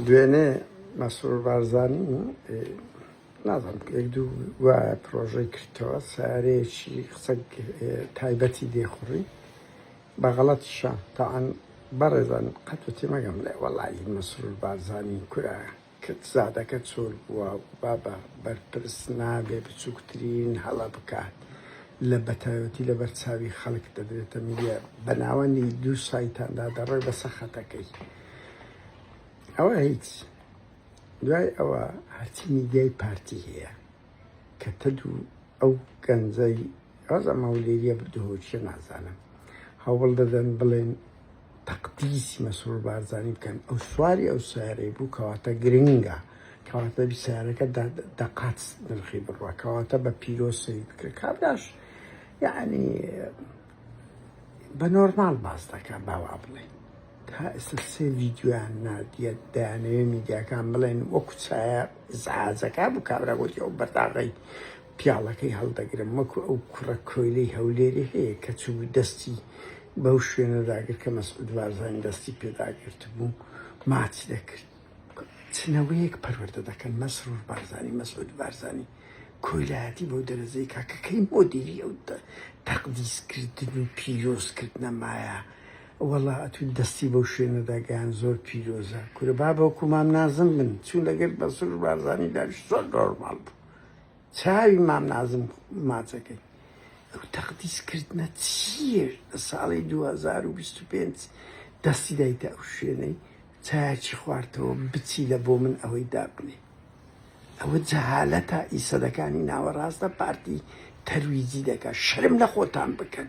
دوێنێ مەسرور بارزانی نازم یەک دوو وایە پرۆژەی کردەوە سارەیەکی قسە تایبەتی دێخوڕی بەغەڵەت شە تاعاان بەڕێزان قەت و تێمەگەم لێ وەڵی مەسرور بارزانی کورە کرد زادەکە چۆر بووە بابە بەرپرس نابێ بچووکترین هەڵە بکات لە بەتایەتی لە بەرچاوی خەڵک دەدرێتە میە بەناوەنی دوو سایتاندا دەڕێ بەسە خەتەکەی ئەوە هیچ دوای ئەوە هەرچی میدیای پارتی هەیە کە تەد و ئەو گەنجەی ڕاز ئەمە و لێریە بدهۆچە نازانم هەوڵ دەدەن بڵێن تەقدیسی مەسرور بارزانانی بکەن ئەو سواری ئەو سیارەی بوو کەواتە گرنگە کەواتە سیارەکە دەقات نرخی بڕە کەواتە بە پیرۆسی بکە کابراش یعنی بە نۆرمال باس دەکە باوا بڵێ تا ئێستا سێ ڤیدیۆیان ناردیە دەیانەوێ میدیاکان بڵێن وەکو چایە زعاجەکە بوو کابرا گوتی ئەو بەرداغی پیاڵەکەی هەڵدەگرم وەکو ئەو کوڕە کۆیلەی هەولێری هەیە کە چوو دەستی بەو شوێنەداگر کە مەسعود بارزان دەستی پێداگرت بوو ماچ دەکرد چنەوەیەک پەروەردە دەکەن مەسرور بارزانی مەسعود بارزانی کۆیلایەتی بۆ دەرەجەی کاکەکەی مۆدیری ئەو تەقدیسکردن و پیرۆزکردنە مایە وەڵا ئەتوو دەستی بەو شوێنەدا گەیاند زۆر پیرۆزە کورە با بەوکو مام نازم بن چوو لەگەر بەسروش بارزانی داش زۆر نۆرماڵ بوو چاوی مام نازم ماچەکەی ئەو تەقدیس کردنە چیە لە ساڵی 2025 دەستی دایتە ئەو شوێنەی چایچی خواردەوە بچی لە بۆ من ئەوەی دابنێ ئەوە جەهالەتە ئیسەدەکانی ناوەڕاستە پارتی تەرویجی دەکات شەرم لە خۆتان بکەن